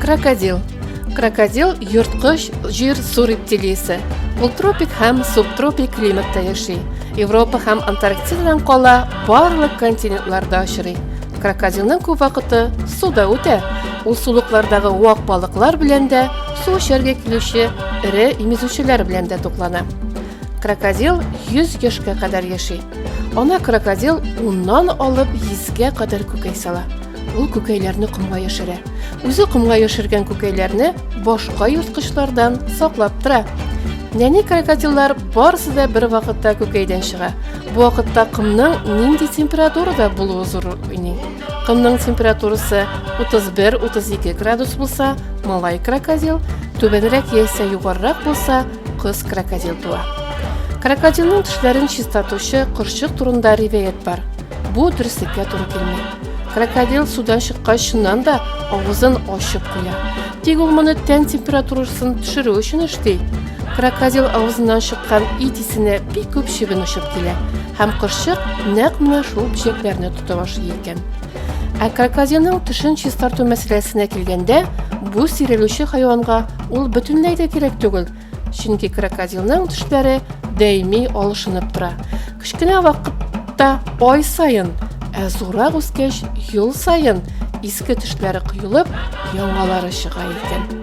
Крокодил. Крокодил йорткыч җир су рептилиясе. Ул тропик һәм субтропик климатта яши. Европа һәм Антарктидадан кала барлык континентларда очрый. Крокодилның күп вакыты суда үтә. Ул сулыклардагы вак балыклар белән дә, су эчәргә килүче эре имезүчеләр белән дә туклана. Крокодил 100 яшькә кадәр яши. Ана крокодил уннан алып 100гә кадәр күкәй сала. Ул күкәйләрне комга яшерә. Үзе комга яшергән күкәйләрне башка ерткычлардан саклап тора. Нәни крокодиллар барысы да бер вакытта күкәйдән чыга. Бу вакытта комның нинди температурада булуы зур уйный. Комның температурасы 31-32 градус булса, малай крокодил, түбәнрәк яисә югарырак булса, кыз крокодил туа. Крокодилның тешләрен чистартучы кырчык турында риваять бар. Бу дөреслеккә туры килми. Крокодил судан чыккач, чыннан да авызын ачып куя. Тик ул моны тән температурасын төшерү өчен эшли. Крокодил авызыннан чыккан ит исенә бик күп чебен очып килә һәм кошчык нәкъ менә шул бөҗәкләрне тота башлый икән. Ә крокодилның тешен чистарту мәсьәләсенә килгәндә, бу сирелүче хайванга ул бөтенләй дә кирәк түгел, Чөнки крокодилның төшләре даими алышынып тора. Кечкенә вакытта ай саен, ә зуррак үскәч ел саен иске төшләре коелып, яңалары чыга икән.